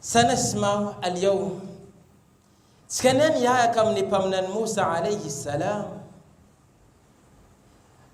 Sana Simao Al-Yawm. Tsy kania miahaka amin'ny Mpaminany Moussa Alayhi Salam.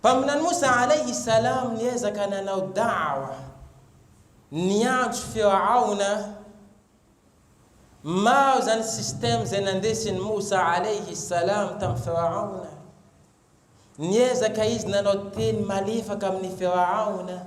Mpaminany Moussa Alayhi Salam niezaka nanao Da'wa, niantso Firaona, maro izany système izay nandesin'i Moussa Alayhi Salam tamin'i Firaona. Niezaka izy nanao teny malefaka amin'ny Firaona,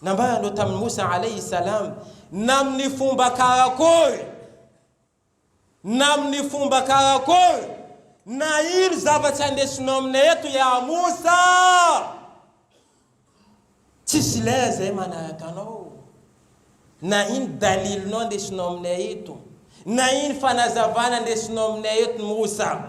Nambarany tamin'i Moussa alaihi salaam na amin'ny fomba karakory na amin'ny fomba karakory na ino zavatra andesinao aminay eto ya Moussa, tsisy lay zay manaraka anao, na ino dalilinao andesinao aminay eto, na ino fanazavana andesinao aminay eto Moussa.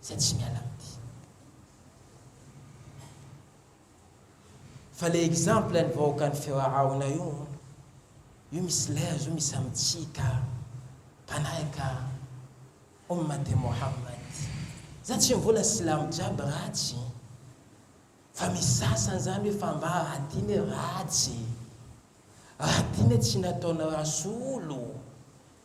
izay tsy miala amity fa le exemple ny vahoakan'ny feo arahona io io misy lez io misy amitsika mpanahaka ommate mohammad za tsy mivona silamo jiaby ratsy fa misy sasany zany hoe fa mba raha tiany hoe ratsy raha tiany hoe tsy nataona rasolo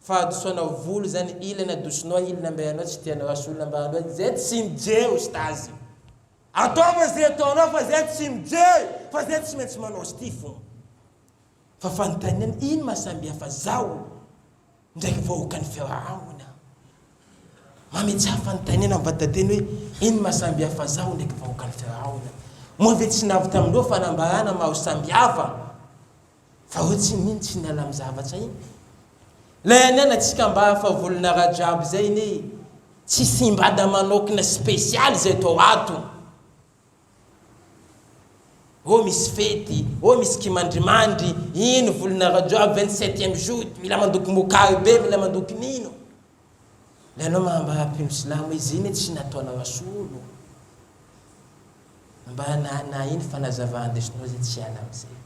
Fahadisoana volo zany ilany adosonao a ilany mba ianao tsy tianao asolo mba anao zay tsy mijery ostazy ataovy zay ataonao fa zay tsy mijery fa zay tsy maintsy manao sty fona fa fanontaniana ino maha samihafa zaho ndraiky vahoakan'ny fiarahamona mametraha fanontaniana am vatateny hoe ino maha samihafa zaho ndraiky vahoakan'ny fiarahamona moa ve tsy navy tamindreo fanambarana maro samihafa Fa hoe tsy mino tsy niala am zavatra iny. Lay anianatsika mba hafa volona Rajab zay anie tsy simbada manokna special zay atao ato. Oh misy fety, oh misy kimandrimandry, iny volona Rajab vingt septième jour mila mandoky mokary be, mila mandoky nino. Le anao mahambara mpino silamo izy iny tsy nataonao asolo mba nana iny fanazavana ndesinao zay tsy hiala amizay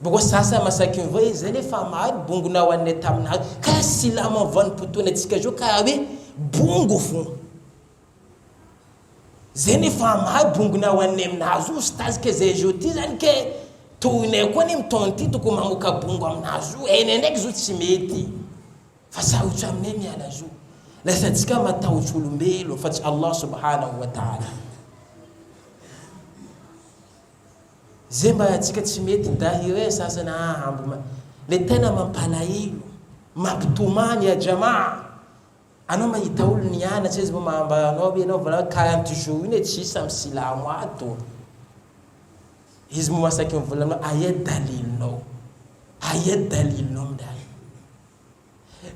Boko sasa masaky ny voa izay nefa maro bongo na hoan'ny tamin'azy ka silamo amin'ny vanim-potoana antsika izao ka hoe bongo fo Zay ny famaha bongony ao an'ny aminazy io stazy ke zay zo ty zany ke tohinay koa anie mitaona ty tokony mamoka bongo aminazy io enay ndraiky zo tsy mety fa sarotso aminay miala zo lasa tsika matahotsy olombelo fa tsy Allah subhanahu wa ta'ala zay mba tsika tsy mety nda hire sasana hambo le tena mampalahelo mampitomany ya jama'a Anao mahita olona nianatra izy moa mahambara anao hoe ianao vao 40 jours iny hoe tsy hisy samy silamo ato. Izy moa masaky mivolana aminao aia dalilinao? Aia dalilinao midali?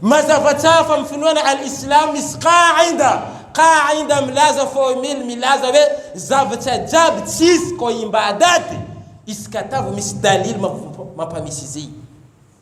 Mazava tsara fa mifinoana al-Islam misy qaida. Qaida milaza formule milaza hoe zavatra jiaby tsisy ko imbadaty izy ka tavo misy dalily mampamisy izy.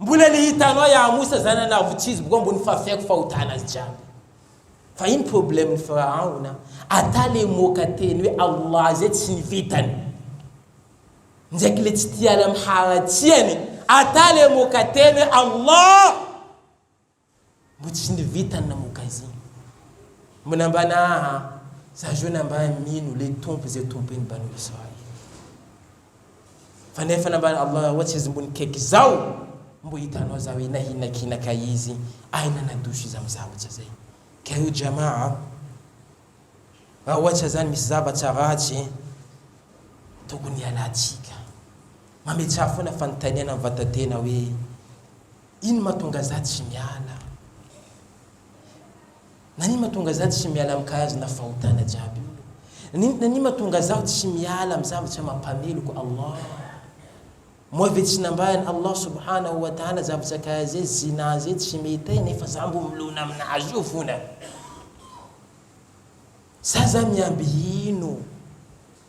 Mbola le hitanao ya Amosa zany anao vao tsy izy boka ambony fafiako fahotana azy jiaby fa ino problème ny Firahaon a ata le moka teny hoe Allah zay tsy ny vitany ndraiky le tsy tia ala miharatsiany ata le moka teny hoe Allah Mbo tsy ny vitany namoka izigny mbola mba naha za jona mba mino le tompo ze tompony mba noho izao e fa nefa na mba Allah ohatsy izy mbo nikaiky zao mbo hitanao za hoe nahinakinak a izy ay nanadoso izy am za ohatsa zay kay o jamaa a ra ohatsa zany misy zavatsa ratsy tokony hialantsika mametsaha fona fanotaniana am vatatena hoe Ino matonga za tsy miala Nani matonga za tsy miala am kahazo na fahotana jiaby Nini Nani matonga zaho tsy miala am zavatra mampameloko Allah Moa ve tsy nambahan Allah subhanahu wa ta'ala zavatra kaha ze zina ze tsy mety ai nefa za mbo milona aminazy io fona Sa za miamby ino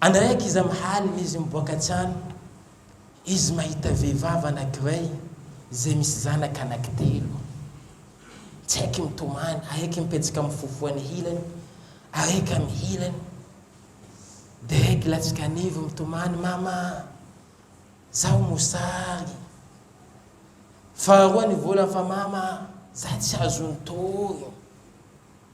Andraiky iza mihalina izy miboaka an-tsano izy mahita vehivavy anankiray izay misy zanaka anankitelo. Tsy haiky mitomany, araiky mipetsaka mifofo any hilany, araiky amy hilany. Dia araiky latsaka anivo mitomany, mama, zaho mosary. Faharoa ny volany fa mama, za tsy azo nitory.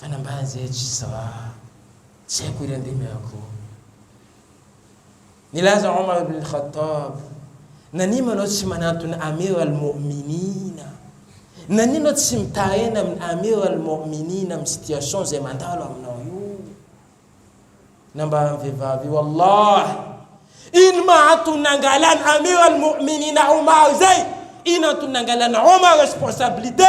Fanambany zay tsy sawa tsy haiko iry andemy ako. Nilaza Omar ibn al-Khattab, Nania manao tsy manantona Amir al-Mo'minin? Nania anao tsy mitaraina amin'ny Amir al-Mo'minin amin'ny situation izay mandalo aminao io? Nambaran'ny vehivavy, Wallahy, ino ma antony nangalan'i Amir al-Mo'minin Omar izay? Ino antony nangalan'i Omar responsabilité?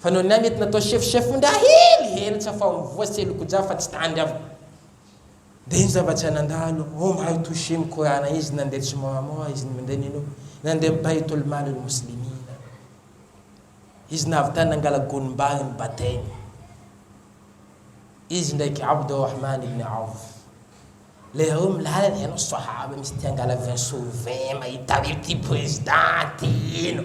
Fa noho ny ahy mety natao chef chef nda hely hely tsy afa-mivoha sy elokojah fa tsy tandry aho. Dia iny zava-tsy hay nandalo oh mahay toucher ny korana izy nandeha tsy moa moa izy minday mino nandeha baitul malul muslimina izy navy tany nangala gonim-bary ny batainy izy ndraiky abdul rahman ibn auf leireo milalana ianao sahaba misy te hangala vin sur vin mahita an'ity président ty ino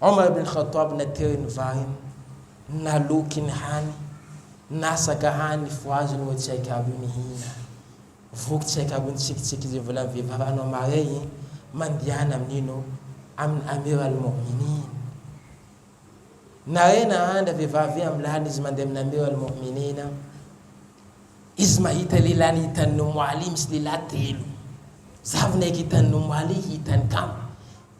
Omar ibn Khattab na teo ny vahiny, naloky ny hany, nasaka hany ny fohaziny moa tsy haiko aby io nihina. Voky tsy haiko aby io nitsikitsiky izay volan'ny vehivavy an'i Omar ey e, mandehana amin'ino? Amin'i Amir al-Mo'minin. Nare nahandra vehivavy eo amin'ny lalana izy mandeha amin'i Amir al-Mo'minin. Izy mahita lehilahy hitan'ny Umm Ali misy lehilahy telo. Zavona eky hitan'ny Umm Ali hitany kamo.